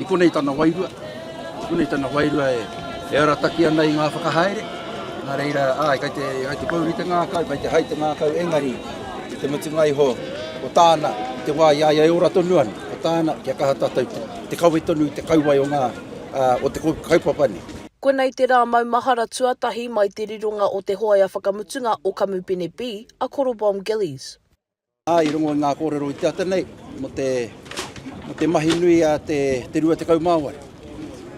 I konei tana wairua, i konei tana wairua e arataki ana i ngā whakahaere, nā reira, āe, kai te, kai te pouri te ngākau, kai te hai te ngākau, engari, i te mutunga iho, ko tāna, i te wā i a ia e ora tonu ana, ko tāna, kia kaha tātou te, te kawe tonu i te kauae o ngā, ā, o te kaupapa nei. Koinei te rā maumahara tuatahi mai te rironga o te hoea whakamutunga o Kamupene B, a Korobom Gillies. Ā, i rongo i ngā kōrero i te ata nei mō te, mō te mahi nui a te, te 28.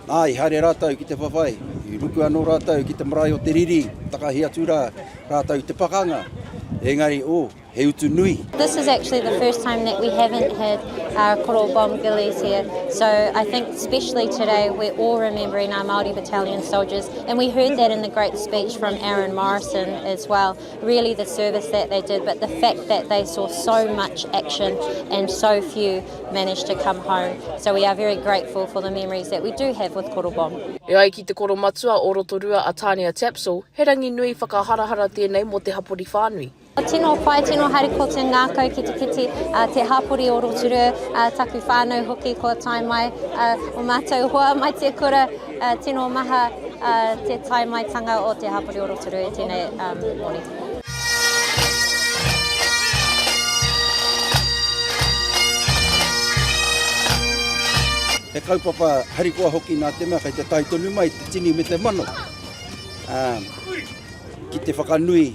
Ā, i haere rātou ki te whawhai, i ruku anō rātou ki te marae o te riri, takahi atu rā rātou i te pakanga, engari, ō, he utu nui. This is actually the first time that we haven't had uh, Koro bomb gillies here. So I think especially today we're all remembering our Māori battalion soldiers and we heard that in the great speech from Aaron Morrison as well. really the service that they did, but the fact that they saw so much action and so few managed to come home. So we are very grateful for the memories that we do have with Korobong. E ai ki te koromatua o Rotorua a Tania Tapsell, he rangi nui whakaharahara tēnei mō te hapori whānui. Tino whai, tino hari ko te ngākau ki te kiti a te hapori o Rotorua, a taku whānau hoki kua tae mai, a, o mātou hoa mai te kura, Tino maha te tae mai tanga o te hapori o Rotorua e tenei morning. He kaupapa harikoa hoki nā te mea kei te tae tonu mai te tini me te mano ki te whakanui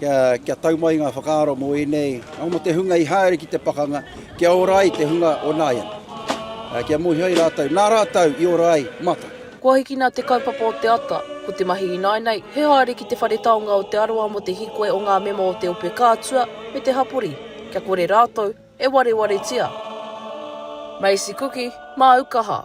Kia, kia tau mai ngā whakaaro mō ēnei, nō mō te hunga i haere ki te pakanga, kia ora ai te hunga o nāiana. Kia mōhio ai rātou, nā rātou i ora ai, mata. Kua hikina te kaupapa o te ata, ko te mahi ināinei, he haere ki te whare taonga o Te Arawa mō te hīkoi o ngā mema o te ope kātua me te hapori, kia kore rātou e warewaretia. Macy Kuki, Māukaha.